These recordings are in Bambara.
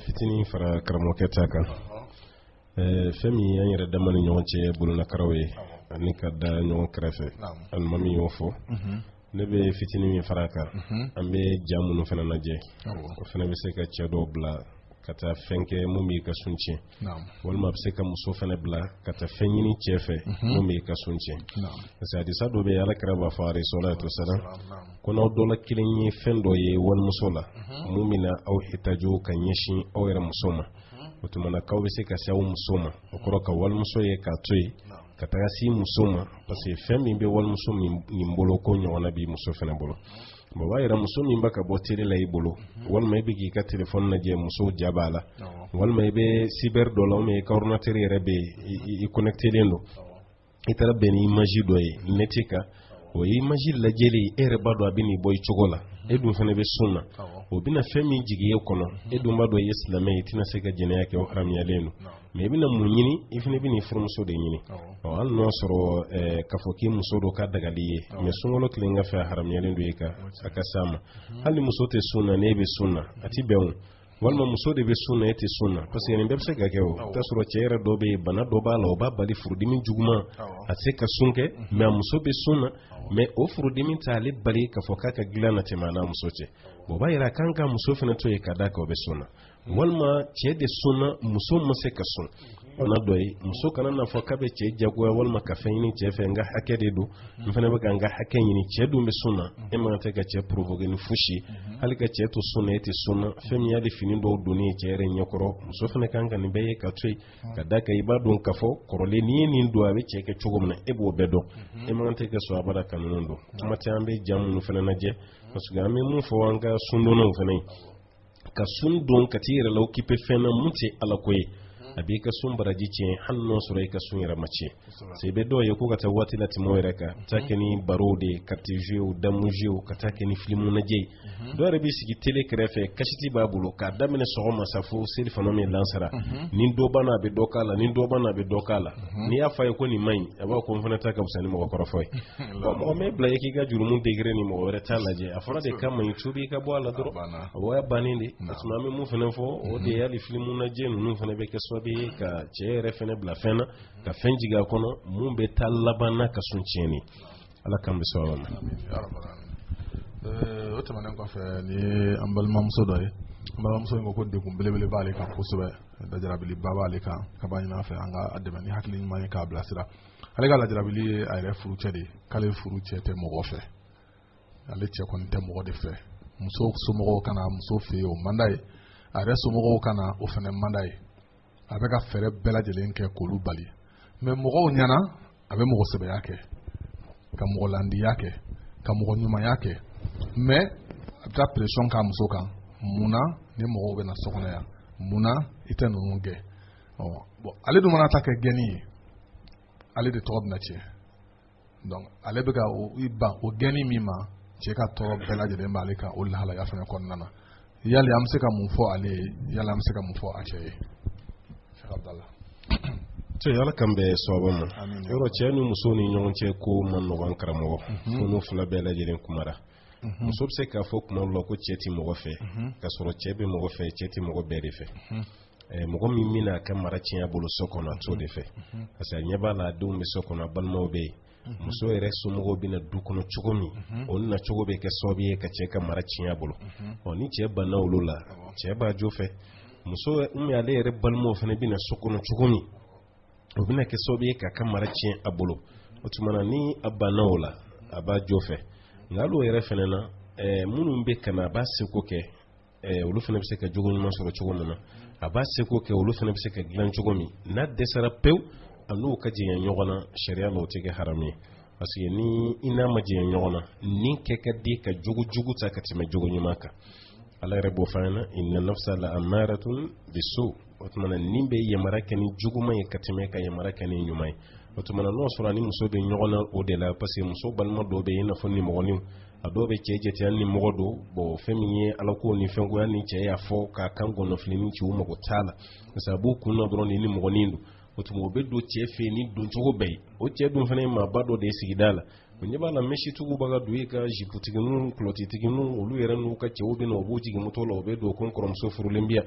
fitinin fara karamɔgɔkɛ ta kan fɛn min y'an yɛrɛ dama ni ɲɔgɔn cɛ bololakaraw ye ani ka da ɲɔgɔn kɛrɛfɛ alimami y'o fɔ ne bɛ fitinin min fara kan an bɛ ja minnu fana lajɛ o fana bɛ se ka cɛ dɔw bila ka taa fɛn kɛ mun b'i ka sun tiɲɛ walima a bɛ se ka muso fana bila ka taa fɛn ɲini cɛ fɛ mhm. mun b'i ka sun tiɲɛ parce que hadisa dɔ bɛ yen alakira b'a fɔ alayhi salatu wasalam ko n'aw dɔ la kelen ye fɛn dɔ ye walimuso la mhm. mun bɛna aw hitajo ka ɲɛsin aw yɛrɛ muso ma mhm. o tuma na k'aw bɛ se ka se aw muso ma o kɔrɔ ka walimuso ye k'a to yen ka taga se muso ma parce que fɛn min bɛ walimuso min bolo k'o ɲɔgɔnna b'i muso fana bolo o b'a yira muso min bɛ ka bɔ tele la i bolo walima i bɛ k'i ka telefɔni lajɛ muso ja b'a la walima i bɛ sibɛri dɔ la ou bien i ka ɔridinatɛri yɛrɛ bɛ i kɔnɛkitelen don i taara bɛn ni imaji dɔ ye nɛti kan o ye imaji lajɛli e yɛrɛ b'a dɔn a bɛ n'i bɔ i cogo la e dun fana bɛ sun na o bɛna fɛn min jigin e kɔnɔ e dun b'a dɔn i ye silamɛ ye i tɛna se ka jɛnɛya kɛ o haramuyalen don mais i bɛna mun ɲini i fana bɛ n'i furumuso de ɲini ɔ hali n'o sɔrɔ k'a fɔ k'i muso don k'a dagalen i ye mais sunkalo tilegan fɛ a haramuyalen don i kan a ka s'a ma hali muso tɛ sun na n'e bɛ sun na a tɛ bɛn o walima muso de bɛ sun na e tɛ sun na parce que nin bɛɛ bɛ se ka kɛ o i t'a sɔrɔ cɛ yɛrɛ dɔ bɛ yen bana dɔ b'a la o b'a bali furudimi juguman a tɛ se ka sun kɛ mais a muso bɛ sun na mais o furudimi tɛ ale bali k'a fɔ k'a ka dilan na tɛmɛ a n'a muso cɛ o b'a yira a kan ka muso fana to yen ka d'a kan o bɛ sun na walima cɛ de sunna muso ma se ka sun bana dɔ ye muso kana n'a fɔ k'a bɛ cɛ jagoya walima ka fɛn ɲini cɛ fɛ n ka hakɛ de don n fana bɛ ka n ka hakɛ ɲini cɛ dun bɛ sun na e man tɛ ka cɛ provoquer ni fosi ye hali ka cɛ to sun na e tɛ sun na fɛn min y'ale fini dɔw donni ye cɛ yɛrɛ ɲɛkɔrɔ muso fana kan ka nin bɛɛ ye k'a to yen ka d'a kan i b'a dɔn k'a fɔ kɔrɔlen n'i ye nin don a bɛ cɛ kɛ cogo min na e b'o bɛɛ dɔn e man tɛ ka sɔn abada ka ninnu don kuma tɛ an bɛ ja minnu fana lajɛ parce que an bɛ mun fɔ an ka sundonnaw fana ye ka sun don ka t'i yɛrɛ la okipe fɛn na mun tɛ ala ko ye a b'i ka sun baraji tiɲɛ hali n'o sɔrɔ i ka sun yɛrɛ ma tiɲɛ se bɛ dɔw ye ko ka taa waati latɛmɛ o yɛrɛ ka taa kɛ ni barow de ye carte jouer dame jouer ka taa kɛ ni filimu lajɛ ye dɔw yɛrɛ b'i sigi tele kɛrɛfɛ kasɛti b'a bolo k'a daminɛ sɔgɔma sa fo selifana min lansara ni dɔ banna a bɛ dɔ k'a la ni dɔ banna a bɛ dɔ k'a la n'i y'a fɔ a ye ko nin man ɲi a b'a ko n fana ta ka fisa ni mɔgɔ kɔrɔfɔ ye mɔgɔ m'e bila i k'i ka jurumu degré ni mɔgɔ wɛrɛ ta lajɛ a fɔra de k'a man ɲi tubi i ka bɔ a la dɔrɔn o y'a bannen de parce que an bɛ mun fana fɔ o de ye hali filimu lajɛ ninnu fana bɛ kɛ sababu ye ka cɛ yɛrɛ fana bila fɛn na ka fɛn jigin a kɔnɔ mun bɛ taa laban n'a ka sun tiɲɛni ala k'an bɛ sababu ma o tɛmɛnen kɔfɛ ni an balimamuso dɔ ye an balimamuso in ko ko degun belebele b'ale kan kosɛbɛ lajarabiliba b'ale kan k'a b'a ɲin'an fɛ an ka a dɛmɛ ni hakili ɲuman ye k'a bilasira ale ka lajarabili ye a yɛrɛ furucɛ de ye k'ale furucɛ tɛ mɔgɔ fɛ ale cɛ kɔni tɛ mɔgɔ de fɛ muso somɔgɔw ka na muso fɛ yen o man d'a ye a yɛrɛ somɔgɔw ka na o fana man d'a ye a bɛ ka fɛɛrɛ bɛɛ lajɛlen kɛ k'olu bali mais mɔgɔw ɲɛna a bɛ mɔgɔ sɛbɛya kɛ ka mɔgɔ landiya kɛ ka mɔgɔ ɲumanya kɛ mais a bɛ taa pression k'a muso kan mun na nin mɔgɔw bɛ na so kɔnɔ yan mun na i tɛ ninnu gɛn ɔ bon ale dun mana ta kɛ gɛnni ye ale de tɔgɔ bɛna tiɲɛ donc ale bɛ ka o i ban o gɛnni min ma cɛ ka tɔɔrɔ bɛɛ lajɛlen b'ale kan o lahalaya fana kɔnɔna na yali an bɛ se ka mun fɔ ale ye yali an bɛ se ka mun fɔ a cɛ ye cɛ ala k'an bɛɛ sababa ma yɔrɔ cɛ ni muso ni ɲɔgɔn cɛ ko man nɔgɔn karamɔgɔ fo n'u fila bɛɛ lajɛlen kumara muso bɛ se k'a fɔ tuma dɔ la ko cɛ tɛ mɔgɔ fɛ k'a sɔrɔ cɛ bɛ mɔgɔ fɛ cɛ tɛ mɔgɔ bɛɛ de fɛ Eh, mɔgɔ min bɛna a ka mara tiɲɛ bolo so kɔnɔ a t'o de fɛ mhm. parce que a ɲɛ b'a la a denw bɛ so kɔnɔ a balimaw bɛ yen mhm. muso yɛrɛ somɔgɔw bɛ na du kɔnɔ cogo min mhm. o na cogo bɛ kɛ sababu ye ka cɛ ka mara tiɲɛ bolo ɔ ni cɛ banna olu la cɛ b'a jo fɛ muso min ale yɛrɛ balimaw fana bɛ na so kɔnɔ cogo min o bɛna kɛ sababu ye k'a ka mara tiɲɛ a bolo o tuma na ni a banna o la a b'a jo fɛ nka hali o yɛrɛ fana na eh, minnu bɛ ka na a b'a seko kɛ eh, olu fana bɛ se ka jogo ɲuman sɔrɔ cogo min na a b'a seko kɛ olu fana bɛ se ka dilan cogo min n'a dɛsɛra pewu a n'u ka jɛɲɛ ɲɔgɔn na sariya la o tɛ kɛ haramu ye parce que ni i n'a ma jɛɲɛ ɲɔgɔn na ni kɛ ka di ka jogo jugu ta ka tɛmɛ jogo ɲuman kan ala yɛrɛ b'o fɔ an ɲɛna inna nafsa la amaratun bisu o tuma na ni bɛ yamara kɛ ni juguman ye ka tɛmɛ ka yamara kɛ ni ɲuman ye o tuma na n'o sɔrɔ ni muso bɛ ɲɔgɔn na o de la parce que muso balima dɔw bɛ yen i n'a fɔ nimɔgɔninw a dɔw bɛ cɛ jate hali nimɔgɔ don bon fɛn min ye alako ni fɛnkoya ni cɛ y'a fɔ k'a kan gɔnɔfilini ci u mago t'a la parce que a b'u kun na dɔrɔn ni nimɔgɔnin don o tuma o bɛ don cɛ fɛ yen ni doncogo bɛɛ ye o cɛ dun fana ye maaba dɔ de ye sigida la o ɲɛ b'a la mɛsitigiw bɛ ka don yen ka jiputigininw kulɔtitigininw olu yɛrɛ n'u ka cɛw bɛ na u b'u jigin moto la u bɛ don ko n kɔrɔmuso furulen bi yan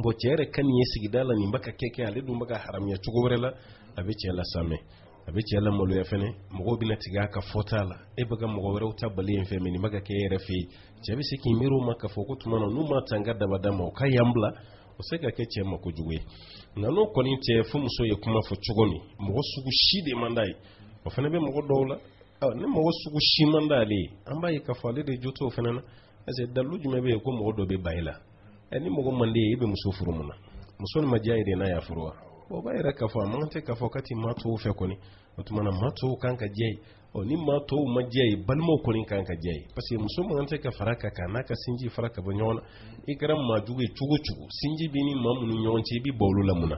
bon cɛ yɛrɛ ka nin ye sigida la nin bɛ ka kɛ kɛ ale dun bɛ ka haramuya cogo wɛrɛ la a bɛ cɛ lasamɛ a bɛ cɛ lamaloya fana mɔgɔw bɛna tigɛ a ka fɔta la e bɛ ka mɔgɔ wɛrɛw ta bali an fɛ mais nin bɛ ka kɛ e yɛrɛ fɛ yen cɛ bɛ se k'i miiri o ma k'a fɔ k'o tuma na n'u ma ta n ka dabada ma u ka yan bila o se ka kɛ cɛ ma kojugu ye nka n'o kɔni tɛ fo muso ye kuma fɔ cogo min mɔgɔ sugu si de man d'a ye o fana bɛ mɔgɔ dɔw la ni mɔgɔ sugu si man d'ale ye an b'a ye k'a fɔ ale de jo t'o fana na parce que dalu jumɛn bɛ yen ko mɔgɔ dɔ bɛ ban i la ɛ ni mɔgɔ man d'i ye i bɛ muso furu mun na muso nin ma diya ye de n'a y'a furu wa o b'a yira k'a fɔ a man tɛ k'a fɔ k'a ti maa tɔw fɛ kɔni o tuma na maa tɔw kan ka diya ye ɔ ni maa tɔw ma diya ye balimaw kɔni kan ka diya ye parce que muso man tɛ ka fara ka kan n'a ka sinji fara ka bɔ ɲɔgɔn na i kɛra maa jugu ye cogo cogo sinji bɛ ni maa minnu ɲɔgɔn cɛ i bɛ bɔ olu la mun na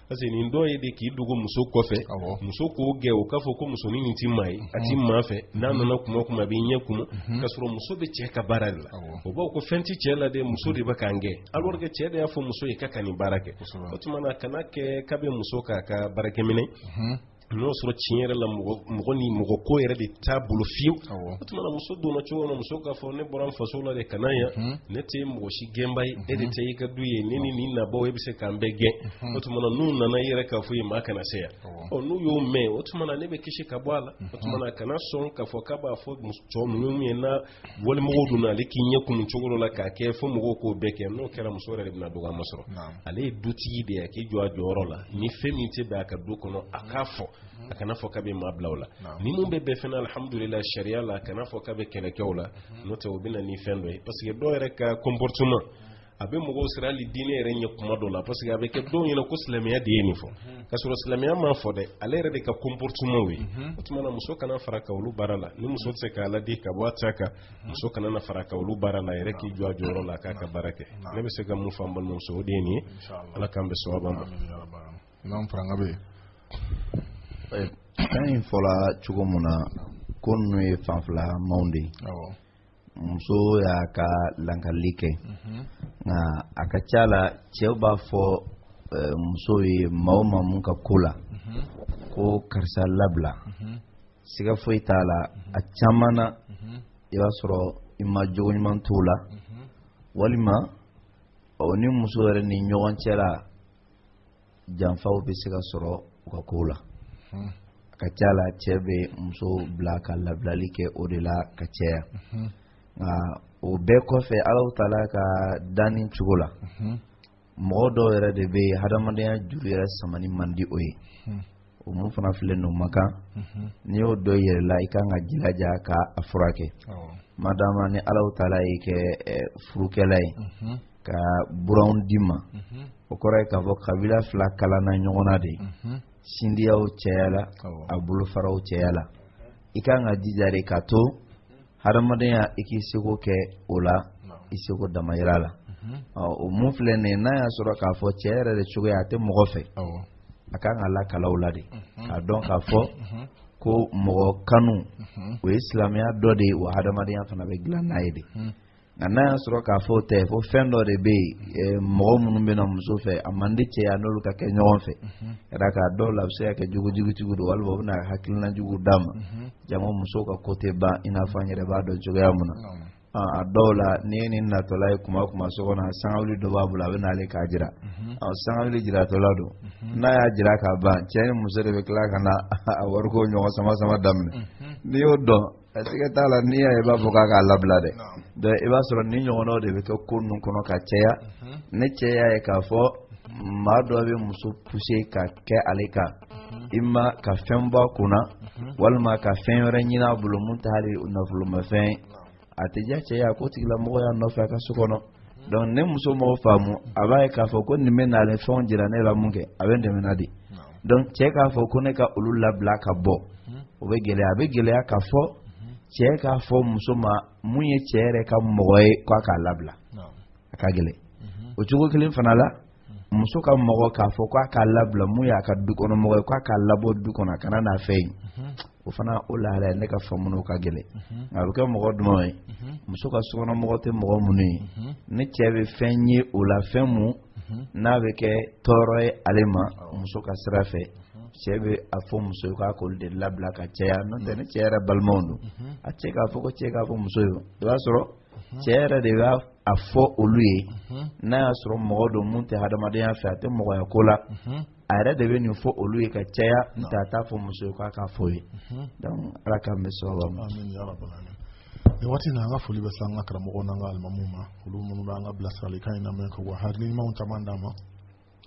parce que nin dɔ ye de k'i dogo muso kɔfɛ muso k'o gɛn o k'a fɔ ko musonin nin ti maa ye a ti maa fɛ n'an nana kuma o kuma a b'i ɲɛ kumu k'a sɔrɔ muso bɛ cɛ ka baara de la o b'a fɔ ko fɛn tɛ cɛ la dɛ muso de bɛ k'an gɛn alors que cɛ de y'a fɔ muso ye k'a ka nin baara kɛ o tuma na kana kɛ k'a bɛ muso k'a ka baarakɛminɛn n'o sɔrɔ tiɲɛ yɛrɛ la mɔgɔ ni mɔgɔ ko yɛrɛ de t'a bolo fiyewu o tuma na muso donna cogo na muso k'a fɔ ne bɔra n faso la de ka na yan mhm. ne tɛ mɔgɔ si gɛnbaa ye e de ta ye i ka du ye ne ni nin nabaaw e bɛ se k'an bɛɛ gɛn mhm. o tuma na n'u nana i yɛrɛ k'a fɔ u ye maa kana se yan ɔ n'u y'o mɛn o tuma na ne bɛ kisi ka bɔ a la o tuma na kana sɔn k'a fɔ k'a b'a fɔ muso ye minnu ye na wali mɔgɔw donna ale k'i ɲɛ kumu cogo dɔ la k'a kɛ fo mɔgɔw k'o bɛɛ kɛ n'o kɛra muso yɛrɛ de bɛna dɔgɔya masɔrɔ ale ye dutigi de ye a k'i jɔ a jɔyɔrɔ la ni fɛn min tɛ bɛn a ka du kɔnɔ a k'a fɔ a kana fɔ k'a bɛ maa bila o la ni mun bɛ bɛn fana alihamudulila sariya la a kana fɔ k'a bɛ kɛlɛ kɛ o la n'o tɛ o bɛ na ni fɛn dɔ ye parce que dɔw yɛrɛ ka comportement a bɛ mɔgɔw siran hali diinɛ yɛrɛ ɲɛ kuma dɔ la parce que a bɛ kɛ dɔw ɲɛna ko silamɛya de ye nin fɔ mhm. ka sɔrɔ silamɛya m'a fɔ dɛ ale yɛrɛ de ka comportement ye mhm. o tuma na muso kana fara a kan olu baara la ni muso tɛ se k'a ladi ka bɔ a ta kan mhm. muso kana na fara a kan olu baara la a yɛrɛ k'i jɔ a jɔyɔrɔ la k'a ka baara kɛ ne bɛ se ka mun fɔ an balimamuso o de ye nin ye ala k'an bɛɛ sɔn a ma. imam faranga bɛ yen. fɛn in fɔra cogo mun na ko ninnu ye fanfilamaw de ye. muso y'a ka lankali kɛ mhm. nka a ka ca la cɛw b'a fɔ eh, muso ye maa o maa mun ka ko la mhm. ko karisa labila mhm. siga foyi t'a la a caman na i b'a sɔrɔ i ma jogo ɲuman t'o la walima o ni muso yɛrɛ ni ɲɔgɔn cɛ la janfaw bɛ se ka sɔrɔ u ka kow la hmm. a ka ca la cɛ bɛ muso bila ka labilali kɛ o de la ka cɛya hmm. nka o bɛɛ kɔfɛ alahu taala ka danni cogo la hmm. mɔgɔ dɔw yɛrɛ de bɛ yen hadamadenya juru yɛrɛ samani man di o ye o mun fana filɛ nin o man kan n'i y'o dɔn i yɛrɛ la i kan ka jilaja ka a furakɛ madama ni alahu taala y'i kɛ furukɛla ye ka buranw di i ma o kɔrɔ ye k'a fɔ kabila fila kalanna ɲɔgɔn na de sinjiyaw cɛyala a bolofaraw cɛyala i kan ka jija de ka to hadamadenya i k'i seko kɛ o la i seko damayira la o mun filɛ nin ye n'a y'a sɔrɔ k'a fɔ cɛ yɛrɛ de cogoya a tɛ mɔgɔ fɛ a kan ka lakalan o la de k'a dɔn k'a fɔ ko mɔgɔ kanu o ye silamɛya dɔ de ye wa hadamadenya fana bɛ dilan n'a ye de nka n'a y'a sɔrɔ k'a fɔ o tɛ ko fɛn dɔ de bɛ yen mɔgɔ minnu bɛ na muso fɛ a man di cɛ ye a n'olu ka kɛ ɲɔgɔn fɛ ka d'a kan a dɔw la a bɛ se ka kɛ jogojugutigiw don walima u bɛna hakilina jugu d'a ma jama muso ka ko tɛ ban i n'a fɔ an yɛrɛ b'a dɔn cogoya min na a dɔw la n'i ye nin natɔla ye kuma o kuma so kɔnɔ sangawuli dɔ b'a bolo a bɛ n'ale k'a jira sangawuli jiratɔla don n'a y'a jira k'a ban cɛ ni muso de bɛ tila ka na a wariko ɲɔgɔn sama sama daminɛ n'i y'o dɔn A siga t'a la n'i y'a ye i b'a fɔ k'a k'a labila dɛ donc i b'a sɔrɔ nin ɲɔgɔnnaw de bɛ kɛ ko ninnu kɔnɔ ka caya ni cɛ y'a ye k'a fɔ maa dɔ bɛ muso pousser ka kɛ ale kanma ka fɛn bɔ a kunna walima ka fɛn wɛrɛ ɲini a bolo mun tɛ hali nafolomafɛn ye a tɛ diya cɛ ye a k'o tigilamɔgɔ y'a nɔfɛ a ka so kɔnɔ donc ni muso m'o ko faamu a b'a ye k'a fɔ ko nin bɛ n'ale fɛnw jira ne la mun kɛ a bɛ dɛmɛ na de donc cɛ k'a fɔ ko ne ka olu labila ka bɔ o bɛ gɛlɛya a bɛ gɛlɛya k'a fɔ cɛ k'a fɔ muso ma mun ye cɛ yɛrɛ ka mɔgɔ ye k'a k'a labila a ka gɛlɛn o cogo kelen fana la muso ka mɔgɔ k'a fɔ k'a k'a labila mun y'a ka dukɔnɔmɔgɔ ye k'a k'a labɔ du kɔnɔ a kana n'a fɛ yen o fana o lahala ne ka faamu na o ka gɛlɛn mhm. nka a bɛ kɛ mɔgɔ duman ye mhm. muso ka sokɔnɔmɔgɔ tɛ mɔgɔ minnu ye mhm. ni cɛ bɛ fɛn ye o la fɛn mun n'a bɛ kɛ tɔɔrɔ ye ale ma muso ka sira fɛ cɛ bɛ a fɔ muso ye k'a k'olu de labila ka caya n'o tɛ ni cɛ yɛrɛ balimaw don a cɛ k'a fɔ ko cɛ k'a fɔ muso ye i b'a sɔrɔ cɛ yɛrɛ de b'a a fɔ olu ye n'a y'a sɔrɔ mɔgɔ don mun tɛ hadamadenya fɛ a tɛ mɔgɔya ko la a yɛrɛ de bɛ nin fɔ olu ye ka caya n'o tɛ a t'a fɔ muso ye k'a k'a fɔ ye mhm. donc ala k'an bɛn sababa ma. amiina ya rabbal alamin nin waati na an ka foli bɛ se an ka karamɔgɔw n'an ka alimamuw ma olu minnu bɛ an ka bilasiralikan in lamɛn ka wa hakili ɲumanw caman d'an ma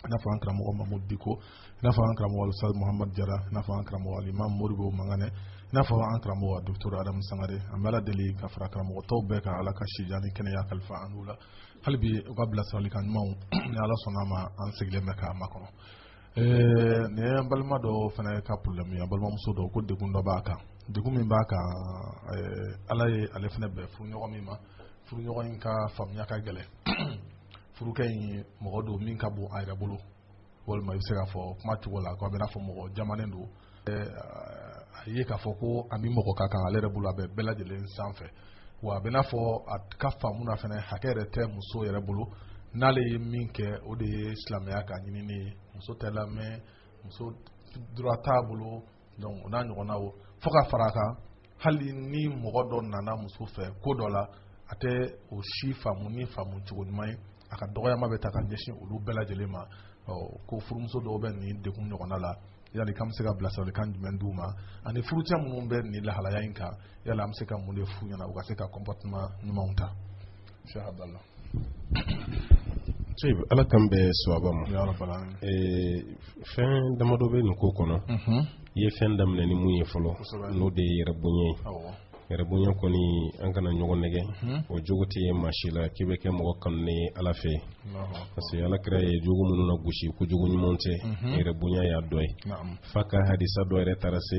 i n'a fɔ an karamɔgɔ mamudu diko i n'a fɔ an karamɔgɔ alustaz muhamad jara i n'a fɔ an karamɔgɔ alimam modibo manganɛ i n'a fɔ an karamɔgɔ doctor adamu sangare an bɛ ala deli ka fara karamɔgɔ tɔw bɛɛ kan ala ka sijan ni kɛnɛya kalifa an n'u la hali bi u ka bilasiralikan ɲumanw ni ala sɔnn'a ma an sigilen bɛ k'a makɔnɔ nin ye an balima dɔ fana ka problème ye an balimamuso dɔ ko degun dɔ b'a kan degun min b'a kan ala ye ale fana bɛn furuɲɔgɔn min ma furuɲɔgɔn in ka faamuya ka gɛlɛn furukɛ in mɔgɔ don min ka bon a yɛrɛ bolo walima i bɛ se k'a fɔ kuma cogo la ko a bɛn'a fɔ mɔgɔ jamanen don a ye k'a fɔ ko a ni mɔgɔ ka kan ale yɛrɛ bolo a bɛ bɛɛ lajɛlen sanfɛ wa a bɛ n'a fɔ a ka faamu na fana hakɛ yɛrɛ tɛ muso yɛrɛ bolo n'ale ye min kɛ o de ye silamɛya ka ɲinini ye muso tɛ lamɛn muso droit t'a bolo donc o n'a ɲɔgɔnnaw fo ka fara a kan hali ni mɔgɔ dɔ nana muso fɛ ko dɔ la a tɛ o si faamu ni faamu cogo ɲuman ye a ka dɔgɔyama bɛ ta ka ɲɛsin olu bɛɛ lajɛlen ma ko furumuso dɔw bɛ nin degun ɲɔgɔnna la yali k'an bɛ se ka bilasiralikan jumɛn d'u ma ani furucɛ minnu bɛ nin lahalaya in kan yala an bɛ se ka mun de f'u ɲɛna u ka se ka comportement ɲumanw ta Cheikh Abdallah ala k'an bɛn sawaba ma fɛn damadɔ bɛ nin ko kɔnɔ mhm. i ye fɛn daminɛ ni mun ye fɔlɔ n'o de ye yɛrɛ bonya ye yɛrɛ bonya kɔni an kana ɲɔgɔn nɛgɛ mhm. o jogo tɛ ye maa si la k'i bɛ kɛ mɔgɔ kanunen ye ala fɛ parce que ala kira ye jogo minnu nagosi ko jogo ɲuman tɛ mhm. yɛrɛ bonya y'a dɔ ye f'a ka hadisa dɔ yɛrɛ taara se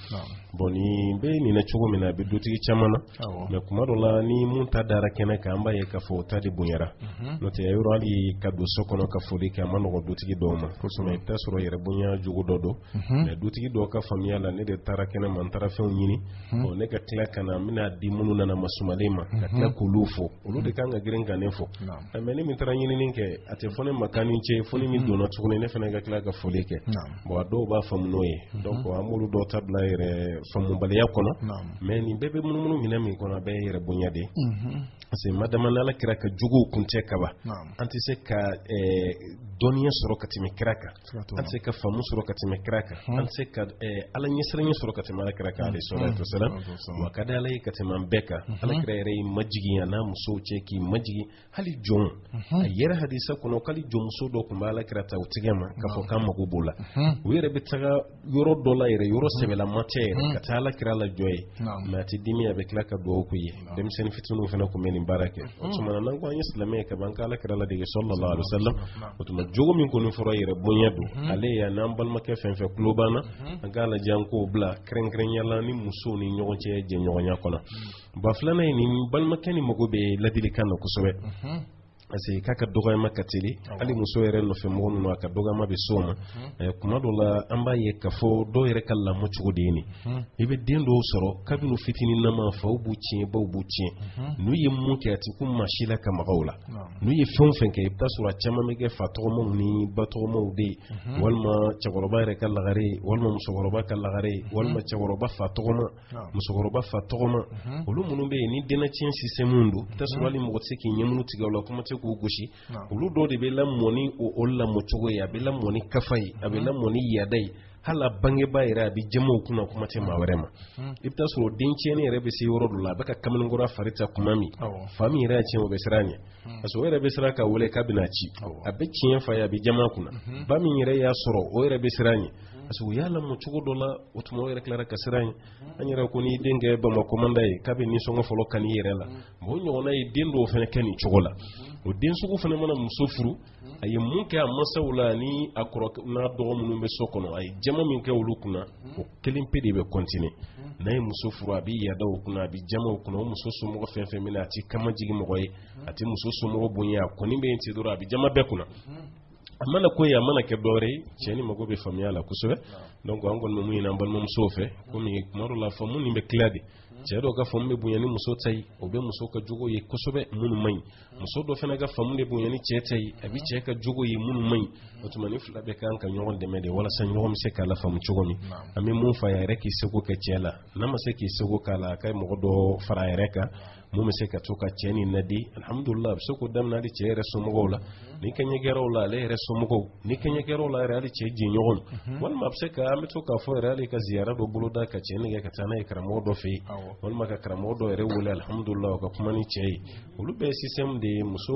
bon nin bɛ nin na cogo min na a bɛ dutigi caman na mais kuma dɔ la ni min ta dara kɛnɛ kan an b'a ye k'a fɔ o ta de bonyara mhm. n'o tɛ yɔrɔ hali ka don so kɔnɔ ka foli kɛ a ma nɔgɔ dutigi dɔw ma mais i bɛ taa sɔrɔ yɛrɛ bonya jogo dɔ don mhm. mais dutigi dɔw ka faamuya la ne de taara kɛnɛ ma n taara fɛnw ɲini mhm. bon ne ka tila ka na n bɛn'a di minnu nana masumalen ma ka tila k'olu fo olu de kan ka girin ka ne fo mais ne min taara ɲinini kɛ a tɛ fɔ ne ma k'an ni ce fo ne min donna tuguni ne fana ka tila ka foli kɛ bon a dɔw b'a faamu n'o ye donc an b'olu dɔw ta bila yɛrɛ faamubaliya kɔnɔ mais nin bɛɛ bɛ munumunu minɛn min kɔnɔ a bɛɛ yɛrɛ bonya de parce que madama n'ala kira ka jogow kun tɛ kaba an tɛ se ka dɔnniya sɔrɔ ka tɛmɛ kira kan an tɛ se ka faamu sɔrɔ ka tɛmɛ kira kan an tɛ se ka ala ɲɛsiranɲɛ sɔrɔ ka tɛmɛ ala kira kan alayhi salatu wasalam w'a ka di ala ye ka tɛmɛ an bɛɛ kan ala kira yɛrɛ y'i majigin a n'a musow cɛ k'i majigin hali jɔn a yɛrɛ hadisa kɔnɔ k'ali jɔnmuso dɔ tun bɛ ala kira ta o tigɛ ma k'a fɔ k'an mago b'o la u yɛrɛ bɛ taga yɔrɔ dɔ la yɛrɛ yɔrɔ sɛbɛlama tɛ yɛrɛ ka taa ala kira lajɔ yen mais a tɛ dimi a bɛ tila ka dugawu k'u ye denmisɛnnin fitininw fana tun bɛ nin baara kɛ o tuma na n'an ko an ye silamɛ ye ka ban k'ala kira ladege sallallahu alaihi wasallam o tuma jogo min kɔni fɔra yɛrɛ bonya don ale y'a n'an balimakɛ fɛn fɛn tulo b'an na an k'a lajɛ an k'o bila kɛrɛnkɛrɛnya la ni musow ni ɲɔgɔn cɛ jɛɲɔgɔnya kɔnɔ ba filanan ye nin balimakɛ nin mago bɛ ladilikan na kosɛbɛ parce que k'a ka dɔgɔyama ka teli hali muso yɛrɛ nɔfɛ mɔgɔ ninnu a ka dɔgɔyama bɛ s'o ma kuma dɔ la an b'a ye k'a fɔ dɔw yɛrɛ ka lamɔ cogo de ye nin i bɛ den dɔw sɔrɔ kabini fitinin nama faw b'u tiɲɛ baw b'u tiɲɛ n'u ye mun kɛ a ti kun maa si la ka maga u la n'u ye fɛn o fɛn kɛ i bɛ taa sɔrɔ a caman bɛ kɛ fa tɔgɔmaw ni ba tɔgɔmaw de ye walima cɛkɔrɔba yɛrɛ ka lagare walima musokɔrɔba ka lagare walima cɛkɔrɔba fa tɔgɔma musokɔrɔba fa tɔgɔma mhm. olu minnu bɛ yen ni dennatiɲɛ système don mhm. i bɛ taa sɔrɔ hali mɔgɔ tɛ se k'i ɲɛmunu tigɛ o la kuma tɛ k'u gosi olu dɔw de bɛ lamɔ ni o lamɔ cogo ye a bɛ lamɔ ni kafa ye a bɛ mhm. lamɔ ni yaada ye hali a bangebaa yɛrɛ a bɛ jaman o kunna kuma tɛ maa wɛrɛ ma i bɛ taa sɔrɔ den tiɲɛni yɛrɛ bɛ se yɔrɔ dɔ la a b'a ka kamalenkɔrɔ fari ta kuma min fa min yɛrɛ y'a tiɲɛ o bɛ siran a ɲɛ parce que o yɛrɛ bɛ siran k'a wele k'a bɛn'a ci a bɛ tiɲɛ f'a ye a bɛ jaman a kunna ba min yɛrɛ y'a sɔrɔ o yɛrɛ bɛ siran a ɲɛ parce que u y'a lamɔ cogo dɔ la o tuma o yɛrɛ tilara ka siran ɲɛ an yɛrɛ ko n'i den kɛ bamakɔ kɔmandan ye k'a bɛ nisɔngɔ fɔlɔ kani i yɛrɛ la mɛ o ɲɔgɔnna ye den dɔw fana kɛ nin cogo la o den sugu fana mana muso furu a ye mun kɛ a masaw la ni a kɔrɔ n'a dɔgɔ minnu bɛ so kɔnɔ a ye jama min kɛ olu kunna o kelen pe de bɛ continuer n'a ye muso furu a bɛ yada o kunna a bɛ jama o kunna o muso somɔgɔ fɛn fɛn min na a tɛ kaman jigin mɔgɔ ye a tɛ muso somɔgɔ bonya a kɔni bɛ yen ten dɔrɔn a bɛ jama bɛɛ kunna a mana ko ye a mana kɛ dɔwɛrɛ ye cɛ nin mago bɛ faamuya la kosɛbɛ donc an kɔni bɛ mun ɲini an balimamusow fɛ komi kuma dɔ la faamu nin bɛ tila de cɛ dɔw ka faamu bɛ bonya ni muso ta ye o bɛ muso ka jogo ye kosɛbɛ minnu man ɲi muso dɔ fana ka faamu de bonya ni cɛ ta ye a bɛ cɛ ka jogo ye minnu man ɲi o tuma nin fila bɛɛ ka kan ka ɲɔgɔn dɛmɛ de walasa ɲɔgɔn bɛ se ka lafaamu cogo min an bɛ mun fɔ a yɛrɛ k'i seko kɛ cɛ la n'a ma se k'i seko k'a la a ka mɔgɔ dɔ fara a yɛrɛ kan min bɛ se ka to ka cɛ nin laadi alhamdulila a bɛ se k'o daminɛ hali cɛ yɛrɛ somɔgɔw la ni kɛɲɛ kɛr'o la ale yɛrɛ somɔgɔw ni kɛɲɛ kɛr'o la yɛrɛ hali cɛ jɛɲɔgɔn walima a bɛ se ka an bɛ to k'a fɔ yɛrɛ hali ka ziyara dɔ boloda ka cɛ nɛgɛ ka taa n'a ye karamɔgɔ dɔ fɛ yen walima ka karamɔgɔ dɔ yɛrɛ wele alhamdulila o ka kuma nin cɛ ye olu bɛɛ ye système de ye muso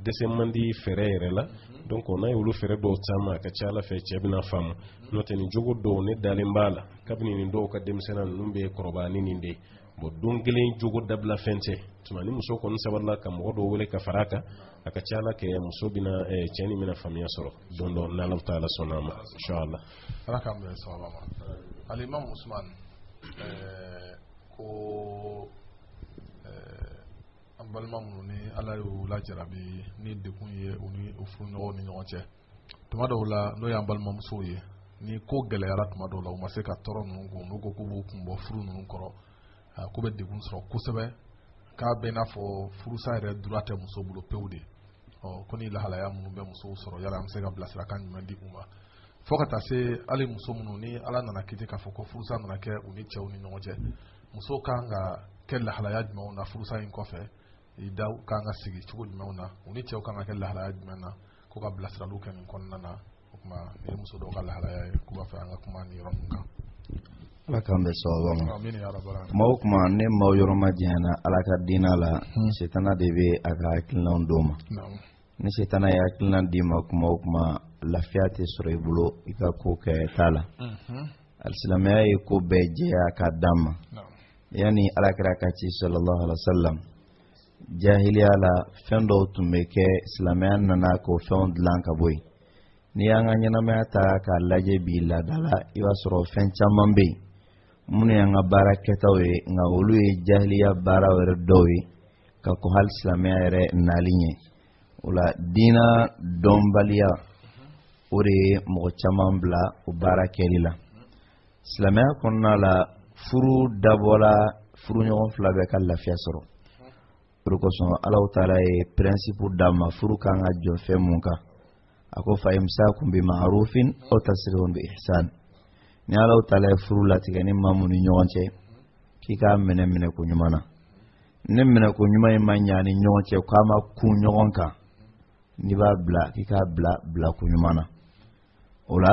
dɛsɛ man di fɛɛrɛ yɛrɛ la donc n'a ye olu fɛɛrɛ dɔw caman a ka ca ala fɛ cɛ bɛna faamu n'o tɛ nin jogo dɔw ne dalen b'a la kabini nin dɔw ka denmisɛnniya ninnu bɛ kɔrɔbaya ni nin de ye bon don kelen jogo dabila fɛn tɛ tuma ni muso kɔni sabarila ka mɔgɔ dɔw wele ka fara a kan a ka ca a la kɛ muso bɛna eh, cɛ nin bɛna faamuya sɔrɔ don dɔ n'alahu taala sɔnna a ma inshallah ala k'an bɛn sawaba ma alimam usman eh, ko eh, an balima minnu ni ala y'u lajarabi ni degun ye u ni u furuɲɔgɔnw ni ɲɔgɔn cɛ tuma dɔw la n'o y'an balimamusow ye ni ko gɛlɛyara tuma dɔw la u ma se ka tɔɔrɔ ninnu kun n'u ko k'u b'u kun bɔ furu ninnu kɔrɔ k'u bɛ degun sɔrɔ kosɛbɛ k'a b'i n'a fɔ furusa yɛrɛ droit tɛ muso bolo pewu de ɔ ko nin lahalaya minnu bɛ musow sɔrɔ yala an bɛ se ka bilasirakan jumɛn di u ma fo ka taa se hali muso minnu ni ala nana kiti k'a fɔ ko furusa nana kɛ u ni cɛw ni ɲɔgɔn cɛ muso kan ka kɛ lahalaya jumɛnw na furusa in kɔfɛ ida kan ka sigi cogo jumɛnw na u ni cɛw kan ka kɛ lahalaya jumɛn na ko ka bilasiraliw kɛ nin kɔnɔna na o tuma nin ye muso dɔw ka lahalaya ye k'u b'a fɛ an ka kuma nin yɔrɔ ninnu kan ala k'an bɛn sawaba ma kuma o kuma ni maaw yɔrɔ majanyana ala ka diinɛ la hmm. setana de bɛ a ka hakilinaw d'u ma ni setana ye hakilina d'i ma kuma o kuma lafiya tɛ sɔrɔ i bolo i ka kokɛta la hmm. alisilamɛya ye ko bɛɛ jɛya k'a d'an ma yanni alakira ka ci sallallahu alaihi wa sallam jahiliya la fɛn dɔw tun bɛ kɛ silamɛya nana k'o fɛnw dilan ka bɔ yen n'i y'an ka ɲɛnamaya ta k'a lajɛ bi laada la i b'a sɔrɔ fɛn caman bɛ yen minnu y'an ka baara kɛtaw ye nka olu ye jahiliya baara yɛrɛ dɔw ye ka kɔn hali silamɛya yɛrɛ nali ɲɛ o la diina dɔnbaliya o de ye mɔgɔ caman bila o baara kɛli la silamɛya kɔnɔna la furu dabɔla furuɲɔgɔn fila bɛɛ ka lafiya sɔrɔ o de kosɔn alahu taala ye principe d'a ma furu kan ka jɔ fɛn mun kan a ko fa imsakun bi ma'rufin aw tasrihun bi ihsan ni alahu taala ye furu latigɛ ni maa mun ni ɲɔgɔn cɛ k'i k'a minɛ minɛko ɲuman na ni minɛko ɲuman in ma ɲa ni ɲɔgɔn cɛ k'a ma kun ɲɔgɔn kan n'i b'a bila k'i k'a bila bilako ɲuman na o la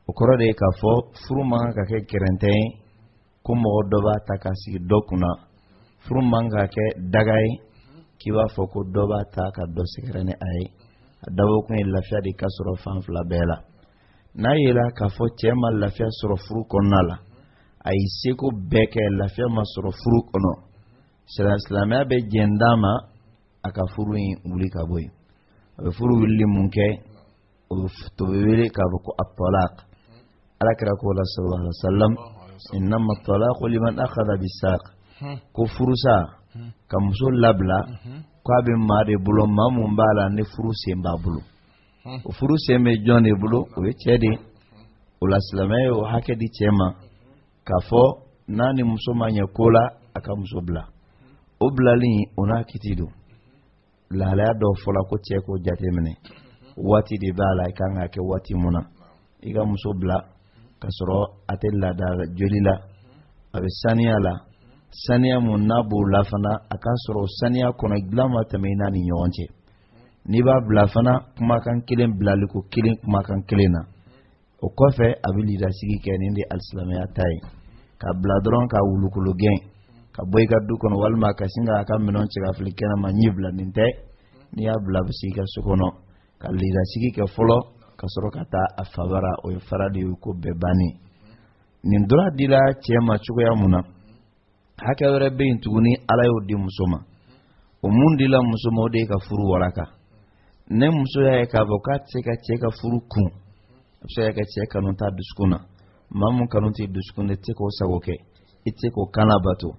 o kɔrɔ de ye k'a fɔ furu man kan ka kɛ gɛrɛntɛ ye ko mɔgɔ dɔ b'a ta k'a sigi dɔ kunna furu man ka kɛ daga ye k'i b'a fɔ ko dɔ b'a ta ka dɔ sɛgɛrɛ ni a ye a dabɔkun ye lafiya de ka sɔrɔ fan fila bɛɛ la n'a yela k'a fɔ cɛ ma lafiya sɔrɔ furu kɔnɔna la a y'i seko bɛɛ kɛ lafiya ma sɔrɔ furu kɔnɔ silamɛya bɛ jɛn d'a ma a ka furu in wuli ka bɔ yen a bɛ furu wulili mun kɛ o de bɛ wele k'a fɔ ko at-talaq alakira ko la sallallahu alaihi wa sallam innama at-talaqu liman akhadha bis-saq ko furusa ka muso labila k'a bɛ maa de bolo maa mun b'a la ni furu sen b'a bolo o furu sen bɛ jɔn de bolo o ye cɛ de ye o la silamɛya ye o hakɛ di cɛ ma k'a fɔ n'a ni muso ma ɲɛ ko la a ka muso bila o bilali o n'a kiti don lahalaya dɔw fɔla ko cɛ k'o jateminɛ waati de b'a la i kan k'a kɛ waati mun na i ka muso bila ka sɔrɔ a tɛ laada joli la a bɛ saniya la saniya mun n'a b'o la fana a k'a sɔrɔ saniya kɔnɔ dilan ma tɛmɛ i n'a ni ɲɔgɔn cɛ n'i b'a bila fana kumakan kelen bilaliko kelen kumakan kelen na o kɔfɛ a bɛ lidasigi kɛ nin de alisilamɛya ta ye k'a bila dɔrɔn k'a wulukolo gɛn ka bɔ i ka du kɔnɔ walima ka sin k'a ka minɛnw cɛ ka fili kɛnɛ ma ɲɛ bila nin tɛ n'i y'a bila a bɛ sigi i ka so kɔnɔ ka lidasigi kɛ fɔlɔ ka sɔrɔ ka taa a fa bara o ye fara de ye ko bɛɛ bannen nin droit dila cɛ ma cogoya mun na hakɛ wɛrɛ bɛ yen tuguni ala y'o di muso ma o mun dila muso ma o de ye ka furu walaka ni muso y'a ye k'a fɔ k'a tɛ se ka cɛ ka furu kun a bɛ se ka kɛ cɛ kanu t'a dusukun na maa mun kanu t'i dusukun na i tɛ se k'o sago kɛ i tɛ se k'o kan labato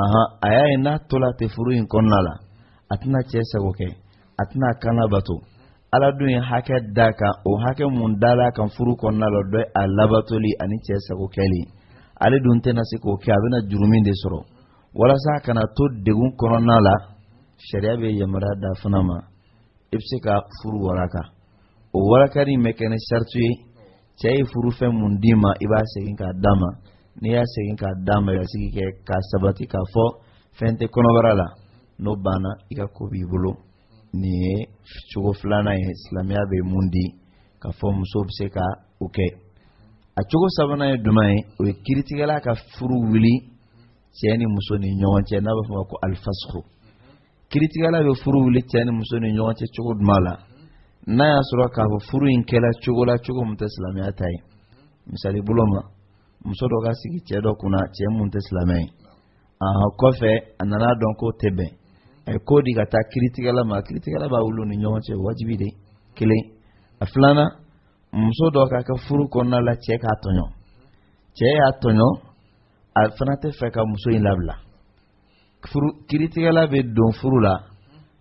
ahan a y'a ye n'a tola ten furu in kɔnɔna la a tɛna cɛ sago kɛ a tɛna k'a labato ala dun ye hakɛ d'a kan o hakɛ mun dal'a kan furu kɔnɔna la dɔ a labatoli ani cɛ sago kɛli ale dun tɛna se k'o kɛ a bɛna jurumu de sɔrɔ walasa a kana to degun kɔnɔna la sariya bɛ yamaruya d'a fana ma i bɛ se ka furu waraka o warakali in bɛ kɛ ni sariti ye cɛ ye furu fɛn mun d'i ma i b'a segin k'a d'a ma n'i y'a segin k'a d'a ma i ka sigi kɛ k'a sabati k'a fɔ fɛn tɛ kɔnɔbara la n'o banna i ka ko b'i bolo nin ye cogo filanan ye silamɛya bɛ mun di k'a fɔ muso bɛ se ka o kɛ a cogo sabanan ye jumɛn ye o ye kiritigɛla ka furu wuli cɛ ni muso ni ɲɔgɔn cɛ n'a bɛ fɔ o ma ko alifasuku kiritigɛla bɛ furu wuli cɛ ni muso ni ɲɔgɔn cɛ cogo jumɛn la n'a y'a sɔrɔ k'a fɔ furu in kɛla cogo la cogo mun tɛ silamɛya ta ye misali bolo ma muso dɔ ka sigi cɛ dɔ kunna cɛ mun tɛ silamɛ ye aa kɔfɛ a nana dɔn k'o tɛ bɛn a ye ko di ka taa kiritigɛla ma kiritigɛla b'a wuli u ni ɲɔgɔn cɛ wajibi de kelen a filanan muso dɔ ka kɛ furu kɔnɔna la cɛ k'a tɔɲɔ cɛ y'a tɔɲɔ a fana tɛ fɛ ka muso in labila kiritigɛla bɛ don furu la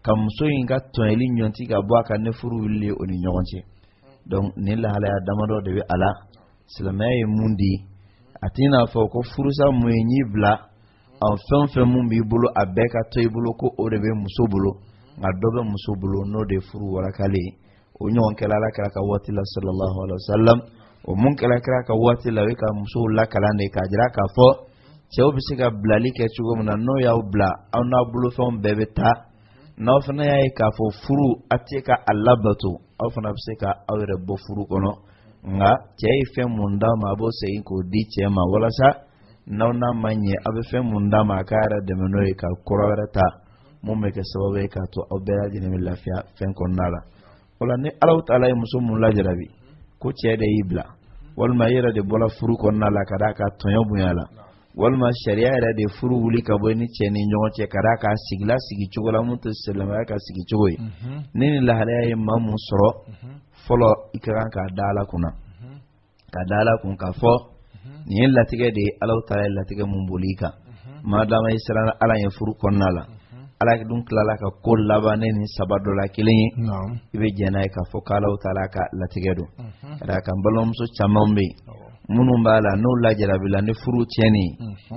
ka muso in ka tɔɲɔli ɲɔti ka bɔ a kan ni furu wulili ye o ni ɲɔgɔn cɛ donc nin lahalaya damadɔ de bɛ a la silamɛya ye mun di a t'i n'a fɔ ko furusa mun ye n'i bilala fɛn fɛn mun b'i bolo a bɛɛ ka to i bolo ko o de bɛ muso bolo nka dɔ bɛ muso bolo n'o de ye furu warakali ye o ɲɔgɔn kɛla ala kira ka waati la sallallahu alaihi wa sallam o mun kɛla kira ka waati la o ye ka musow lakalan de k'a jira k'a fɔ cɛw bɛ se ka bilali kɛ cogo min na n'o y'aw bila aw n'aw bolofɛnw bɛɛ bɛ taa n'aw fana y'a ye k'a fɔ furu a tɛ ka a labato aw fana bɛ se ka aw yɛrɛ bɔ furu kɔnɔ nka cɛ ye fɛn mun d'a ma a b'o segin k'o di cɛ ma walasa n'aw n'a ma ɲɛ aw bɛ fɛn mun d'a ma a k'a yɛrɛ dɛmɛ n'o ye ka kura wɛrɛ ta mun bɛ kɛ sababu ye k'a to aw bɛɛ lajɛlen bɛ lafiya fɛn kɔnɔna la o la ni ala taala ye muso mun lajarabi ko cɛ de y'i bila walima i yɛrɛ de bɔra furu kɔnɔna la ka d'a kan tɔɲɔ bonyala walima sariya yɛrɛ de furu wuli ka bɔ ni cɛ ni ɲɔgɔn cɛ ka d'a kan sigila sigi cogo la mun tɛ silamɛya ka sigi cogo ye ni nin lahalaya ye maa mun sɔrɔ fɔlɔ i ka kan k'a da ala kunna k'a da ala kun k'a fɔ nin ye latigɛ de ye ala taala ye latigɛ mun boli i kan maadama i siranna ala ye furu kɔnɔna la ala dun tilala ka ko laban ni nin saba dɔ la kelen ye i bɛ jɛn n'a ye k'a fɔ k'ala taala ka latigɛ don ka d'a kan balimamuso caman bɛ yen minnu b'a la n'o lajarabila ni furu tiɲɛni ye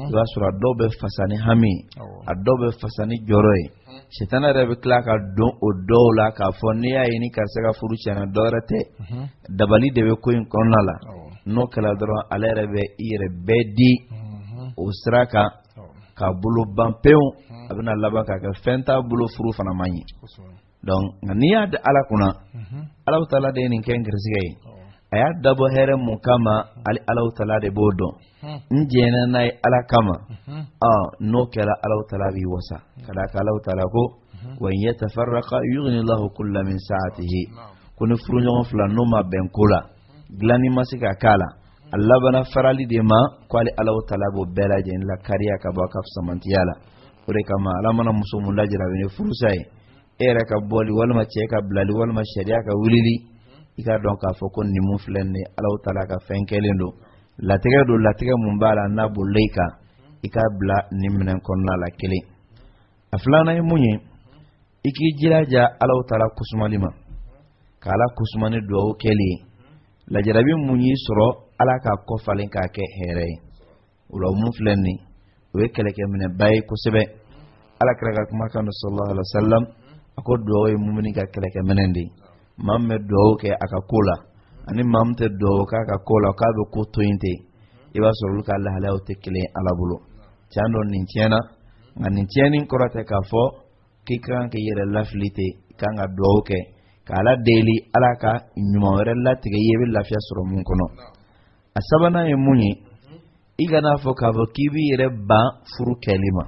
i b'a sɔrɔ a dɔw bɛ fasa ni hami ye a dɔw bɛ fasa ni jɔrɔ ye sitana yɛrɛ bɛ tila ka don o dɔw la k'a fɔ n'i y'a ye ni karisa ka furu tiɲɛna dɔ wɛrɛ tɛ dabali de bɛ ko in kɔnɔna la n'o kɛla dɔrɔn ale yɛrɛ bɛ i yɛrɛ bɛɛ di o sira kan k'a bolo ban pewu a bɛna laban k'a kɛ fɛn t'a bolo furu fana ma ɲɛ donc nka n'i y'a di ala kunna alahu taala de ye nin kɛ n garisigɛ ye a y'a dabɔ hɛrɛ mun kama ali alahu taala de b'o dɔn n jɛnna n'a ye ala kama n'o kɛra alahu taala b'i wasa ka d'a kan alahu taala ko wa in yatafarraqa yughni allahu kullan min sa'atihi ko ni furuɲɔgɔn fila n'o ma bɛn ko ladilanni ma se ka k'a la a labana farali de ma ko ali alahu taala b'o bɛɛ lajɛlen lakariya ka bɔ a ka fisamantiya la o de kama ala mana muso mun lajarabi ni furusa ye e yɛrɛ ka bɔli walima cɛ ka bilali walima sariya ka wulili i k'a dɔn k'a fɔ ko nin mun filɛ nin ye alahu taala ka fɛn kɛlen don latigɛ don latigɛ mun b'a la n'a bolila i kan i k'a bila nin minɛn kɔnɔna la kelen a filanan ye mun ye i k'i jilaja alahu taala kusumali ma ka ala kusuma ni duwawu kɛli ye lajarabi mun y'i sɔrɔ ala k'a kɔfalen k'a kɛ hɛrɛ ye o la mun filɛ nin o ye kɛlɛkɛminɛba ye kosɛbɛ ala kira ka kumakan don sallallahu alaihi wa sallam a ko duwawu ye mumini ka kɛlɛkɛminɛ de ye maa min bɛ duwawu kɛ a ka ko la ani maa min tɛ duwawu k'a ka ko la k'a bɛ ko to yen ten i b'a sɔrɔ olu ka lahalayaw tɛ kelen ye ala bolo tiɲɛ don nin tiɲɛna nka nin tiɲɛni kɔrɔ tɛ k'a fɔ k'i ka kan k'i yɛrɛ lafili ten i ka kan ka duwawu kɛ k'ala deli ala ka ɲuman wɛrɛ latigɛ i ye i bɛ lafiya sɔrɔ mun kɔnɔ a sabanan ye mun ye i kana fɔ k'a fɔ k'i b'i yɛrɛ ban furu kɛli ma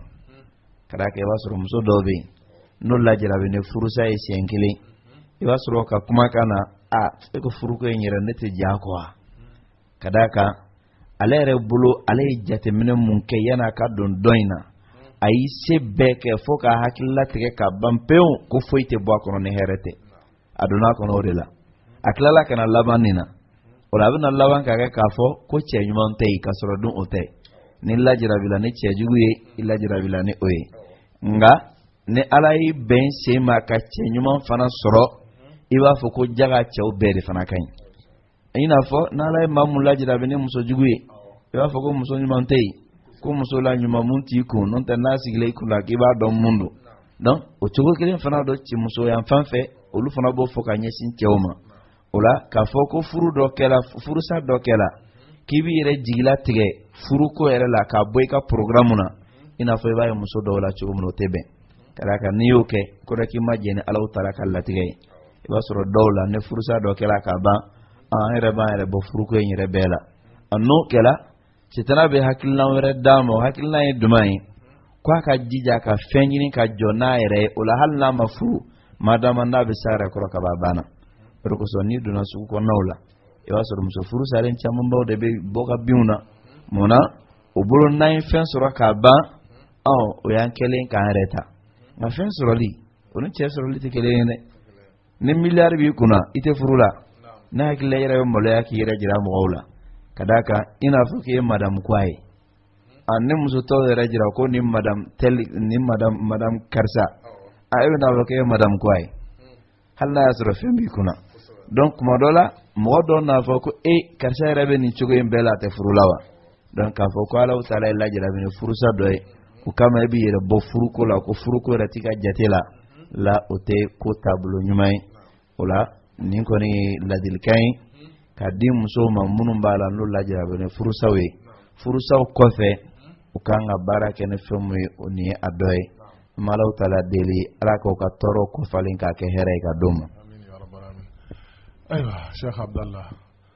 ka d'a kan i b'a sɔrɔ muso dɔw bɛ yen n'o lajarabi ni furusa ye siɲɛ kelen i b'a sɔrɔ ka kumakan na e ko furuko in yɛrɛ ne tɛ diya kɔ wa ka d'a kan ale yɛrɛ bolo ale ye jateminɛ mun kɛ yanni a ka don dɔ in na a y'i se bɛɛ kɛ fo k'a hakilila tigɛ ka ban pewu ko foyi tɛ bɔ a kɔnɔ ni hɛrɛ tɛ a donna a kɔnɔ o de la a tilala ka na laban nin na o la a bɛna laban k'a kɛ k'a fɔ ko cɛ ɲuman tɛ yen k'a sɔrɔ dun o tɛ n'i lajarabila ni cɛ jugu ye i lajarabila ni o ye nka ni ala y'i bɛn sen ma ka cɛ ɲuman fana sɔrɔ i b'a fɔ ko jaga cɛw bɛɛ de fana ka ɲi i n'a fɔ n'ala ye maa mun lajarabi ni muso jugu ye i b'a fɔ ko muso ɲuman tɛ yen ko muso la ɲuman mun t'i kun n'o tɛ n'a sigilen i kun la k'i b'a dɔn mun don donc o cogo kelen fana don cɛ muso yan fan fɛ olu fana b'o fɔ ka ɲɛsin cɛw ma o la k'a fɔ ko furu dɔ kɛla furusa dɔ kɛla k'i b'i yɛrɛ jigila tigɛ furuko yɛrɛ la k'a bɔ i ka programme na i n'a fɔ i b'a ye muso dɔw la cogo min o tɛ bɛn ka d'a kan n'i y'o kɛ kɔrɔ k'i ma jɛn ni alahu taala ka latigɛ ye i b'a sɔrɔ dɔw la ni furusa dɔ kɛra ka ban an yɛrɛ b'an yɛrɛ bɔ furuko in yɛrɛ bɛɛ la n'o kɛra sitana bɛ hakilina wɛrɛ d'a ma o hakilina ye jumɛn ye ko a ka jija ka fɛn ɲini ka jɔ n'a yɛrɛ ye o la hali n'a ma furu madama n'a bɛ s'a yɛrɛ kɔrɔ ka ban banna o de kosɔn n'i donna sugu kɔnɔnaw la i b'a sɔrɔ muso furu salen camanbaw de bɛ bɔ ka binw na mun na o bolo n'an ye fɛn sɔrɔ ka ban ɔ o y'an kɛlen k'an yɛrɛ ta nka fɛn sɔrɔli o ni cɛ sɔrɔli tɛ kelen ye dɛ ni miliyari b'i kunna i tɛ furu la ne hakili la i yɛrɛ bɛ maloya k'i yɛrɛ jira mɔgɔw la ka d'a kan i n'a fɔ k'i ye madamu quoi ye a ni muso tɔw yɛrɛ jira ko ni madamu tɛli ni madamu madamu karisa a e bɛ n'a fɔ k'i ye madamu quoi ye hali n'a y'a sɔrɔ fɛn b'i kunna donc kuma dɔ la mɔgɔ dɔw n'a fɔ ko e karisa yɛrɛ bɛ nin cogo in bɛɛ la a tɛ furu la wa donc k'a fɔ ko ala taala y'i lajarabi ni furusa dɔ ye o kama i b'i yɛrɛ bɔ furuko la ko furuko yɛrɛ t'i ka jate la o tɛ ko taabolo ɲuman ye o la nin kɔni ye ladilikan ye ka di musow ma minnu b'a la n'o lajarabi ni furusaw ye furusaw kɔfɛ u kan ka baara kɛ ni fɛn min ye o nin ye a dɔ ye n bɛ alahu taala deli ala k'o ka tɔɔrɔko falen k'a kɛ hɛrɛ ye ka d'o ma. ayiwa sɛki abudulayi.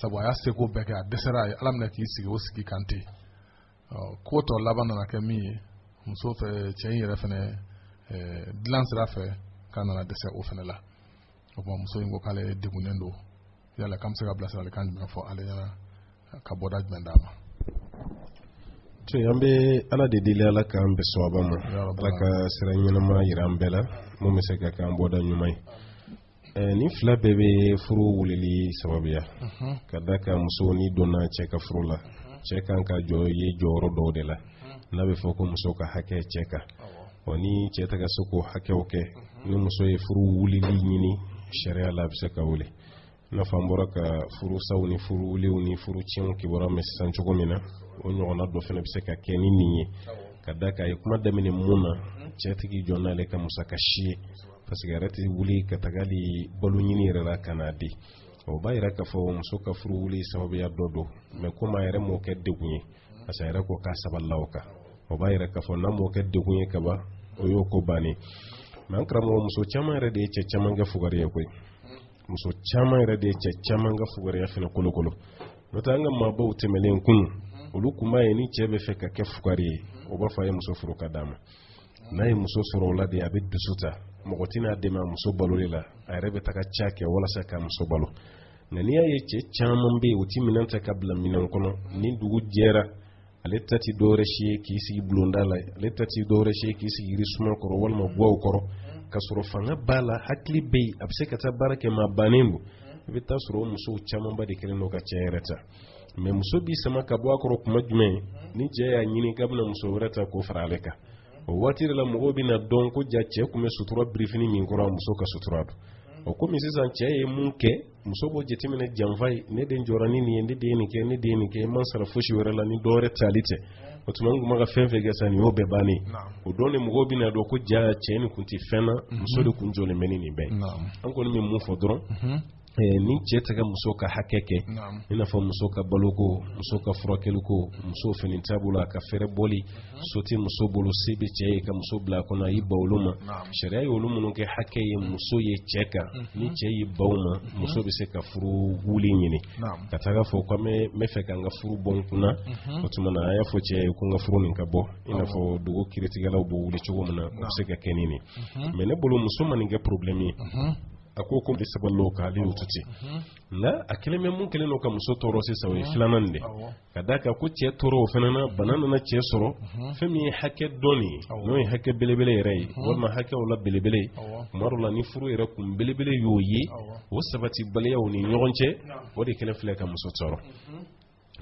sabu a y'a seko bɛɛ kɛ a dɛsɛra a ye ala minɛ k'i sigi o sigi kan ten ko tɔ laban nana kɛ min ye muso fɛ cɛ in yɛrɛ fɛnɛ dilan sira fɛ k'a nana dɛsɛ o fɛnɛ la o tuma muso in ko k'ale degunnen don yala k'an bɛ se ka bilasiralikan jumɛn fɔ ale ɲɛna ka bɔda jumɛn d'a ma to an bɛ ala de deli ala k'an bɛn sawaba ma ala ka sira ɲɛnama yira an bɛɛ la mun bɛ se ka k'an bɔda ɲuman ye nin fila bɛɛ bɛ furu wulili sababuya ka d'a kan muso ni donna cɛ ka furu la cɛ kan ka jɔ ye jɔyɔrɔ dɔw de la n'a bɛ fɔ ko muso ka hakɛ cɛ kan ɔ ni cɛ tɛ ka se k'o hakɛw kɛ ni muso ye furu wulili ɲini sariya la a bɛ se ka wuli i n'a fɔ an bɔra ka furusaw ni furuwuliw ni furu tiɲɛw kibaruya mɛn sisan cogo min na o ɲɔgɔnna dɔ fana bɛ se ka kɛ ni nin ye ka d'a kan a ye kuma daminɛ mun na cɛ tɛ k'i jɔ n'ale ka musaka si ye parce que a yɛrɛ tɛ wuli ka taga hali balo ɲini yɛrɛ la ka n'a di o b'a yira k'a fɔ muso ka furu wuli sababuya dɔ don mais komi a yɛrɛ m'o kɛ degun ye parce que a yɛrɛ ko k'a sabalila o kan o b'a yira k'a fɔ n'a m'o kɛ degun ye ka ban o y'o ko bannen mais an karamɔgɔ muso caman yɛrɛ de ye cɛ caman kɛ fugari ye koyi muso caman yɛrɛ de ye cɛ caman ka fugariya fana kolokolo n'o tɛ an ka maabaw tɛmɛlen kun olu kun b'a ye ni cɛ bɛ fɛ ka kɛ fugari ye o b'a fɔ a ye muso furu ka d'a ma n'a ye muso sɔrɔ o la de a bɛ dusu ta mɔgɔ tɛna a dɛmɛ a muso baloli la a yɛrɛ bɛ taga ca kɛ walasa k'a muso balo nka n'i y'a ye cɛ caman bɛ yen u ti minɛn ta ka bila minɛn kɔnɔ ni dugu jɛra ale ta ti dɔwɛrɛ si ye k'i sigi bulonda la ale ta ti dɔwɛrɛ si ye k'i sigi yirisuma kɔrɔ walima gwaw kɔrɔ ka sɔrɔ fanga b'a la hakili bɛ yen a bɛ se ka taa baara kɛ mɛ a bannen don i bɛ taa sɔrɔ o musow camanba de kɛlen don ka cɛ yɛrɛ ta mɛ muso b'i sama ka bɔ a kɔrɔ kuma jumɛn ni cɛ y'a ɲini k'a bɛna muso wɛrɛ ta k'o fara ale kan o waati de la mɔgɔw bɛna dɔn ko ja cɛ tun bɛ sutura birifini min kɔrɔ muso ka sutura don o komi sisan cɛ ye mun kɛ muso b'o jateminɛ janfa ye ne de jɔra ni nin ye ne de ye nin kɛ ne de ye nin kɛ n ma sara fosi wɛrɛ la ni dɔ wɛrɛ tali tɛ o tuma n tun bɛ ka fɛn fɛn kɛ sa nin y'o bɛɛ bannen o don de mɔgɔw bɛna dɔn ko ja cɛ nin tun tɛ fɛn na muso de tun jɔlen bɛ ni nin bɛɛ ye an kɔni bɛ mun fɔ dɔrɔn mhm. ni cɛ tɛ ka muso ka hakɛ kɛ i n'a fɔ muso ka baloko muso ka furakɛliko muso fini t'a bolo a ka fɛɛrɛbɔli so tɛ muso bolo se bɛ cɛ ye ka muso bila a kɔnɔ a y'i ban u ma sariya ye olu minnu kɛ hakɛ ye muso ye cɛ kan ni cɛ y'i ban u ma muso bɛ se ka furu wuli ɲini ka taga fɔ ko n bɛ fɛ ka n ka furu bɔ n kunna o tuma na a y'a fɔ cɛ ye ko n ka furu nin ka bɔ i n'a fɔ dugu kiritigɛlaw b'o wuli cogo min na o bɛ se ka kɛ ni nin mɛ ne bolo muso ma nin kɛ porobilɛmu ye a ko ko saba loo ka ale y'o to ten nka a kɛlen bɛ mun kɛlen don ka muso tɔɔrɔ sisan o ye filanan nin de ka d'a kan ko cɛ tɔɔrɔ o fana na bana nana cɛ sɔrɔ fɛn min ye hakɛ dɔ nin ye n'o ye hakɛ belebele yɛrɛ ye walima hakɛw la belebele ye tuma dɔ la ni furu yɛrɛ kun belebele y'o ye o sabatibaliya u ni ɲɔgɔn cɛ o de kɛlen filɛ ka muso tɔɔrɔ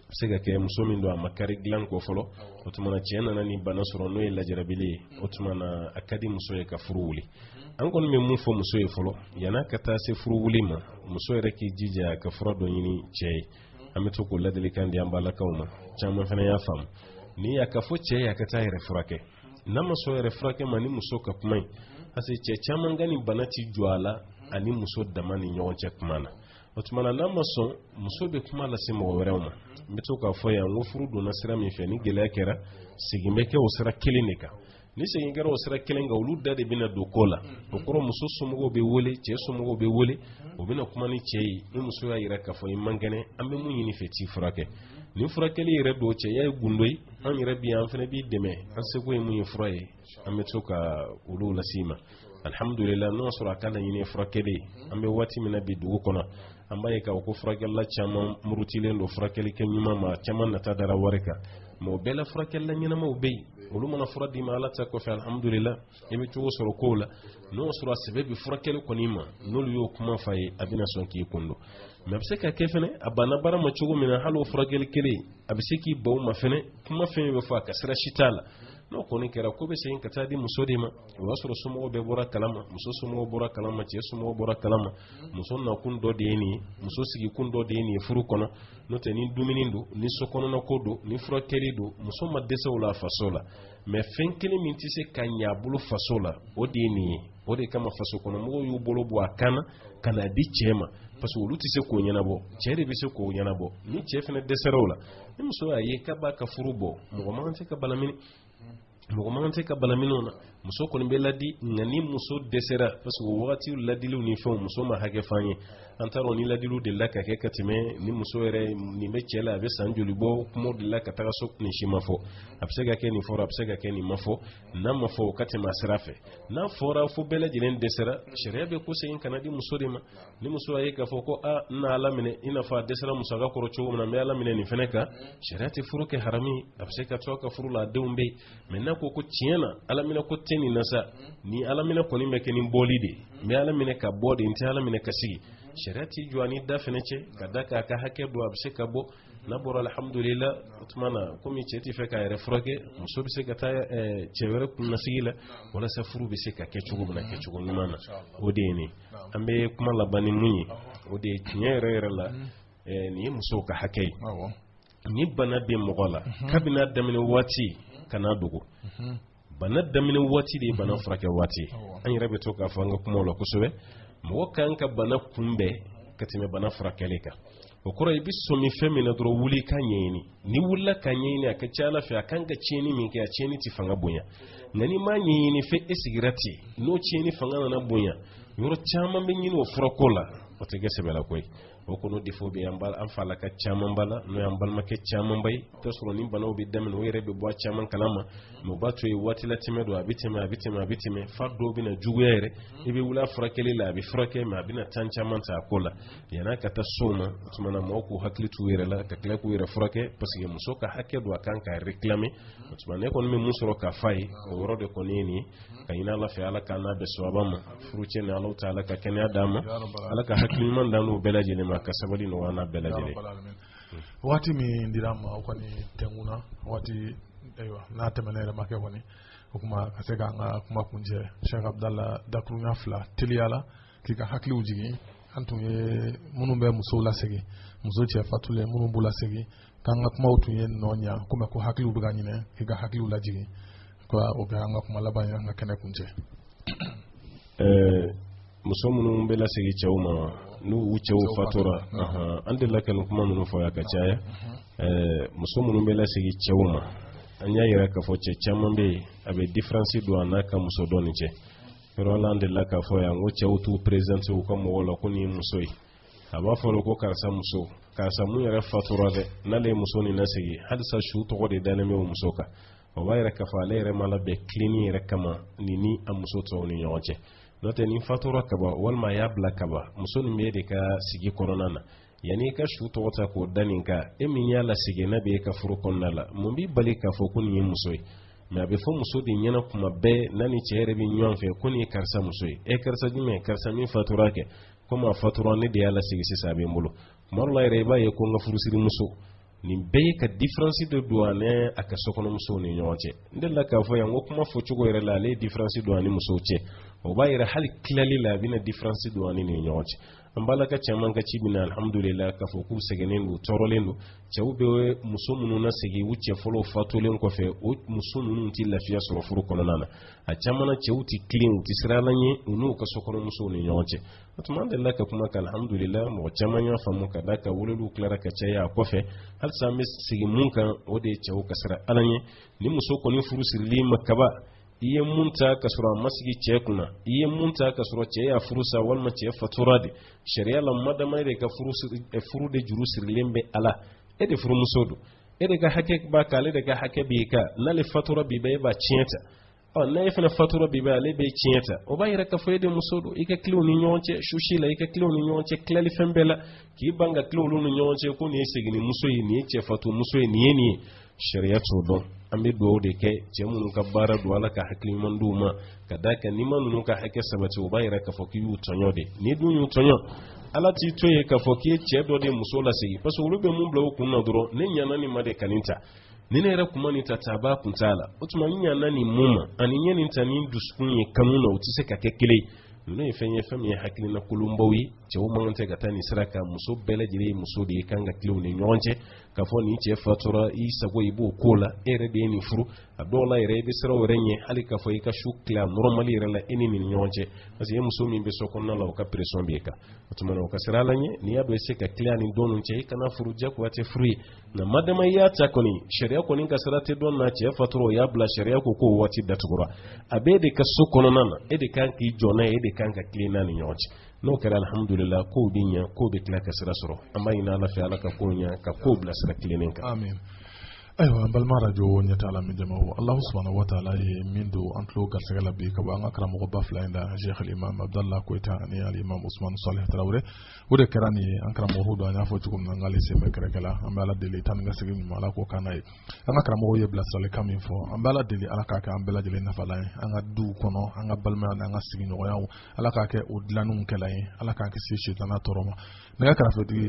a se ka kɛ muso min don a ma kari dilanko fɔlɔ o tuma na cɛɛ nana nin bana sɔrɔ n'o ye lajarabili ye o tuma na a ka di muso ye ka furu wuli an kɔni bɛ mun fɔ muso ye fɔlɔ yan'a ka taa se furu wuli ma muso yɛrɛ k'i jija ka fura dɔ ɲini cɛɛ ye an bɛ to k'o ladilikan di an balakaw ma caman fana y'a faamu ni y'a k'a fɔ cɛɛ ye a ka taa yɛrɛ furakɛ n'a ma sɔn yɛrɛ furakɛ ma ni muso ka kuma ye parce que cɛ caman ka nin bana tɛ jɔ a la ani muso dama ni ɲɔgɔn cɛ kuma na o tuma na n'a ma sɔn muso bɛ kuma lase mɔgɔ wɛrɛw ma n bɛ to k'a fɔ yan ko furu donna sira min fɛ ni gɛlɛya kɛra segin bɛ kɛ o sira kelen de kan ni segin kɛra o sira kelen kan olu da de bɛna don ko la o kɔrɔ muso somɔgɔw bɛ wele cɛ somɔgɔw bɛ wele o bɛna kuma ni cɛ ye ni muso y'a yira k'a fɔ i man kɛnɛ an bɛ mun ɲin'i fɛ t'i furakɛ ni furakɛli yɛrɛ don cɛya ye gundo ye an yɛrɛ bi an fana b'i dɛmɛ an seko ye mun ye fura ye an bɛ to ka olu lase ma alihamdulila n'o y'a sɔrɔ a ka laɲini furakɛli an bɛ waati min na bi dugu kɔnɔ an b'a ye k'a fɔ ko furakɛlila caman murutilen don furakɛli kɛ ɲuman ma caman nata dara wari kan mɛ o bɛɛ la furakɛlila ɲɛnamaw bɛ yen olu mana fura d'i ma ala ta kɔfɛ alihamudulila i bɛ cogo sɔrɔ kow la n'o sɔrɔ a sɛbɛ bɛ furakɛli kɔni ma n'olu y'o kuma f'a ye a bɛna sɔn k'i kun don mɛ a bɛ se ka kɛ fɛnɛ a banna baara ma cogo min na hali o furakɛli kelen a bɛ se k'i ban o ma fɛnɛ kuma fɛn bɛ fɔ a ka sira si t'a la n'o kɔni kɛra ko bɛ segin ka taa di muso de ma o y'a sɔrɔ somɔgɔw bɛɛ bɔra kalama muso somɔgɔw bɔra kalama cɛ somɔgɔw bɔra kalama muso nakun dɔ de ye nin ye muso sigikun dɔ de ye nin ye furu kɔnɔ n'o tɛ ni dumuni don ni sokɔnɔnako don ni furakɛli don muso ma dɛsɛ o la faso la mais fɛn kelen min tɛ se ka ɲɛ a bolo faso la o de ye nin ye o de kama faso kɔnɔmɔgɔw y'u bolo bɔ a kan na ka na di cɛ ma parce que olu tɛ se k'o ɲɛnabɔ cɛ de bɛ se k'o ɲɛnabɔ ni cɛ fana dɛsɛra o la ni muso y'a ye k'a b'a ka furu bɔ mɔgɔ man kan tɛ ka bana mini mɔgɔ man kan tɛ ka bana miniw na muso kɔni bɛ ladi nka ni muso dɛsɛra parce que o wagati ladiliw ni fɛnw muso ma hakɛ f'an ye an t'a dɔn ni ladiliw delila ka kɛ ka tɛmɛ ni muso yɛrɛ nin bɛ cɛ la a bɛ san joli bɔ kumaw delila ka taga so nin si ma fɔ a bɛ se ka kɛ nin fɔra a bɛ se ka kɛ nin ma fɔ n'a ma fɔ o ka tɛmɛ a sira fɛ n'a fɔra fo bɛɛ lajɛlen dɛsɛra sariya bɛ ko segin ka na di muso de ma ni muso y'a ye k'a fɔ ko a n na ala minɛ i n'a fɔ a dɛsɛra musaka kɔrɔ cogo min na n bɛ ala minɛ nin fana kan sariya tɛ furu kɛ harami a bɛ se ka to a ka furu la a denw bɛ yen mais n'a ko ko tiɲɛ na ala minɛ ko tɛ nin na sa ni ala minɛ kɔni bɛ kɛ ni bɔli de ye n bɛ ala minɛ ka bɔ de n tɛ ala minɛ ka sigi sariya t'i jɔ a ni da fana cɛ ka d'a kan a ka hakɛ don a bɛ se ka bɔ n'a bɔra alhamdulila o tuma na komi cɛ tɛ fɛ k'a yɛrɛ furakɛ muso bɛ se ka taa cɛ wɛrɛ kun na sigi la walasa furu bɛ se ka kɛ cogo min na kɛcogo ɲuman na o de ye nin an bɛ kuma laban ni mun ye o de ye tiɲɛ yɛrɛ yɛrɛ la nin ye musow ka hakɛ ye ni bana bɛ mɔgɔ la kabini a daminɛ waati kan'a dogo bana daminɛ waati de ye bana furakɛ waati ye an yɛrɛ bɛ to k'a fɔ an ka kumaw la kosɛbɛ mɔgɔ ka kan ka bana kunbɛn ka tɛmɛ bana furakɛli kan o kɔrɔ i bɛ sɔmi fɛn min na dɔrɔn wuli k'a ɲɛɲini n'i wulila k'a ɲɛɲini a ka ca ala fɛ a kan ka tiɲɛni min kɛ a tiɲɛni tɛ fanga bonya nka n'i m'a ɲɛɲini fɛ e sigira ten n'o tiɲɛni fanga nana bonya yɔrɔ caman bɛ ɲini o furako la o tɛ kɛ sɛbɛlako ye o kɔnɔ défaut bɛ an bala an falaka caman ba la n'o y'an balimakɛ caman ba ye i t'a sɔrɔ ni banaw bɛ daminɛ u yɛrɛ bɛ bɔ a caman kala ma mais u b'a to yen waati latɛmɛ don a bɛ tɛmɛ a bɛ tɛmɛ a bɛ tɛmɛ fo dɔw bɛna juguya yɛrɛ i bɛ wuli a furakɛli la a bɛ furakɛ mais a bɛna temps caman ta a ko la yan'a ka taa s'o ma o tuma na mɔgɔw k'u hakili t'u yɛrɛ la ka tila k'u yɛrɛ furakɛ parce que muso ka hakɛ don a kan k'a réclamer o tuma ne kɔni bɛ min sɔrɔ k'a f'aw ye o yɔrɔ de kɔni ye nin ye ka ɲini ala fɛ ala k'an n'a bɛn sawaba ma furucɛ ni alaw ta ala ka kɛnɛya d'an ma ala ka hakili ɲuman d'an n'u bɛɛ lajɛlen ma ka sabali nɔgɔya n'a bɛɛ lajɛlen waati min dir'an ma o kɔni tɛnkun na waati ayiwa n'a tɛmɛna yɛrɛ ma kɛ kɔni o tuma ka se k'an ka kuma kuncɛ sɛk abudala dakuruɲa fila teliya la k'i ka hakiliw jigin an tun ye minnu bɛ musow lasegin muso cɛ fatulen minnu b'u lasegin k'an ka kumaw tun ye nɔ ɲa komi ko hakiliw bɛ ka ɲinɛ k'i ka hakiliw lajigin ko o bɛ an ka kuma laban ye an ka kɛnɛ kuncɛ muso minnu bɛ lasegin cɛw ma n'u u cɛw fatura an delila ka nin kuma ninnu fɔ yan ka caya muso minnu bɛ lasegin cɛw ma an y'a yira k'a fɔ cɛ caman bɛ yen a bɛ diferansi don a n'a ka muso dɔ ni cɛ yɔrɔ la an delila k'a fɔ yan ko cɛw t'u perezante u ka mɔgɔw la ko nin ye muso ye a b'a fɔ ko karisa muso karisa mun yɛrɛ fatura dɛ n'ale ye muso nin lasigi halisa su tɔgɔ de dalen bɛ o muso kan o b'a yira k'a fɔ ale yɛrɛ ma labɛn tilenni yɛrɛ kama nin ni a muso tɔw ni ɲɔgɔn cɛ n'o tɛ nin fatura kaba walima a y'a bila kaba muso nin b'e de ka sigi kɔnɔna na yanni i ka su tɔgɔ ta k'o da nin kan e min y'a lasegin n'a bɛ e ka furu kɔnɔna la mun b'i bali k'a fɔ ko nin ye muso ye mɛ a bɛ fɔ muso de ɲɛna kuma bɛɛ n'a ni cɛ yɛrɛ bɛ ɲɔgɔn fɛ ko nin ye karisa muso ye e karisa jumɛn karisa min fatura kɛ komi a fatura ne de y'a lasegin sisan a bɛ n bolo kuma dɔ la yɛrɛ i b'a ye ko n ka furusirimuso nin bɛɛ ye ka diferansi de don a ni a ka sokɔnɔmusow ni ɲɔgɔn cɛ n delila k'a fɔ yan ko kuma fɔcogo yɛrɛ la ale ye diferansi don a ni musow cɛ o b'a yira hali tilali la a bɛna diferansi don a ni nin ɲɔgɔn cɛ an b'a la ka caman ka ci bɛ na alhamdulila k'a fɔ k'u sɛgɛnnen don tɔɔrɔlen don cɛw bɛ muso minnu lasegin u cɛ fɔlɔw fatulen kɔfɛ o muso ninnu tɛ lafiya sɔrɔ furu kɔnɔna na a caman na cɛw tɛ tilen u tɛ siran ala ɲɛ u n'u ka sokɔnɔmusow ni ɲɔgɔn cɛ o tuma an delila ka kuma kan alhamdulila mɔgɔ caman y'a faamu ka da ka weleliw tilara ka caya a kɔfɛ halisa an bɛ segin mun kan o de ye cɛw ka siran ala ɲɛ ni muso kɔni furu siril'i ma kaba i ye mun ta ka sɔrɔ a ma sigi cɛ kunna i ye mun ta ka sɔrɔ cɛ y'a furu sa walima cɛ fatura de sariya la madama e de ka furu de juru sirilen bɛ a la e de furumuso don e de ka hakɛ b'a kan ale de ka hakɛ b'i kan n'ale fatura bi bɛɛ e b'a tiɲɛ ta ɔ ni e fana fatura bi bɛɛ ale b'e tiɲɛ ta o b'a yira k'a fɔ e de muso don i ka tilen u ni ɲɔgɔn cɛ susi la i ka tilen u ni ɲɔgɔn cɛ tilali fɛn bɛɛ la k'i ban ka tilen u ni ɲɔgɔn cɛ ko nin ye seginni muso ye nin ye cɛfatu muso ye nin ye nin ye sariya t'o dɔn an bɛ dugawu de kɛ cɛ minnu ka baara don ala ka hakili ɲuman d'u ma ka d'a kan n'i ma ninnu ka hakɛ sabati o b'a yira k'a fɔ k'i y'u tɔɲɔ de n'i dun y'u tɔɲɔ ala t'i to yen k'a fɔ k'i ye cɛ dɔ de muso lasegin parce que olu bɛ mun bila u kun na dɔrɔn ne ɲana nin ma de ka nin ta ni ne yɛrɛ kuma nin ta ta a b'a kun t'a la o tuma n ɲana nin mun ma ani ɲɛ nin ta ni dusukun ye kanu na o tɛ se ka kɛ kelen ye ninnu ye fɛn ye fɛn min ye hakilina kolonbaw ye cɛw man kan tɛ ka taa nin sira kan muso bɛɛ lajɛlen ye muso de ye kan ka tilen u ni ɲɔgɔn cɛ k'a fɔ nin cɛ fatura i sago i b'o ko la e yɛrɛ de ye nin furu a dɔw la yɛrɛ i bɛ siran yɛrɛ ɲɛ hali k'a fɔ i ka su tila nɔrɔmali yɛrɛ la e ni nin ɲɔgɔn cɛ parce que e muso min bɛ so kɔnɔna la o ka pression b'e kan o tuma na o ka sira la ɲɛ n'i y'a dɔn i tɛ se ka tila nin don ninnu cɛ i kana furu jagoya tɛ furu ye nka madama i y'a ta kɔni sariya kɔni ka sira tɛ dɔn na cɛ fatura o y'a bila sariya ko k'o waati datugura a b'e de ka so kɔnɔna na e de kan k'i jɔ n'a ye e de kan ka tilen n'a ni ɲɔgɔn cɛ n'o kɛra alhamdulila kow bɛ ɲɛ kow bɛ tila ka sira sɔrɔ an b'a ɲini ala fɛ ala ka kow ɲɛ ka kow bila sira tilennen kan amin ayiwa an balima arajo ɲɛtaa lamɛn jama alahu subahana wa taala ye min don an tulo garisɛgɛ la bi ka bɔ an ka karamɔgɔba fila in da sheikh alimam abdallah koyita ani alimam usman salih tarawele o de kɛra nin ye an karamɔgɔ dɔ in an y'a fɔ cogo min na an k'ale sen bɛ kɛrɛkɛ la an bɛ ala deli taa ni ka segin ɲuman ala k'o k'an ye an ka karamɔgɔw ye bilasiralikan min fɔ an bɛ ala deli ala k'a kɛ an bɛɛ lajɛlen nafalan ye an ka duw kɔnɔ an ka balimaya n'an ka sigiɲɔgɔnyaw ala k'a kɛ o dilanniw kɛla ye ala k'an kisi sitana tɔɔrɔ ma nɛgɛ kɛrɛfɛtigi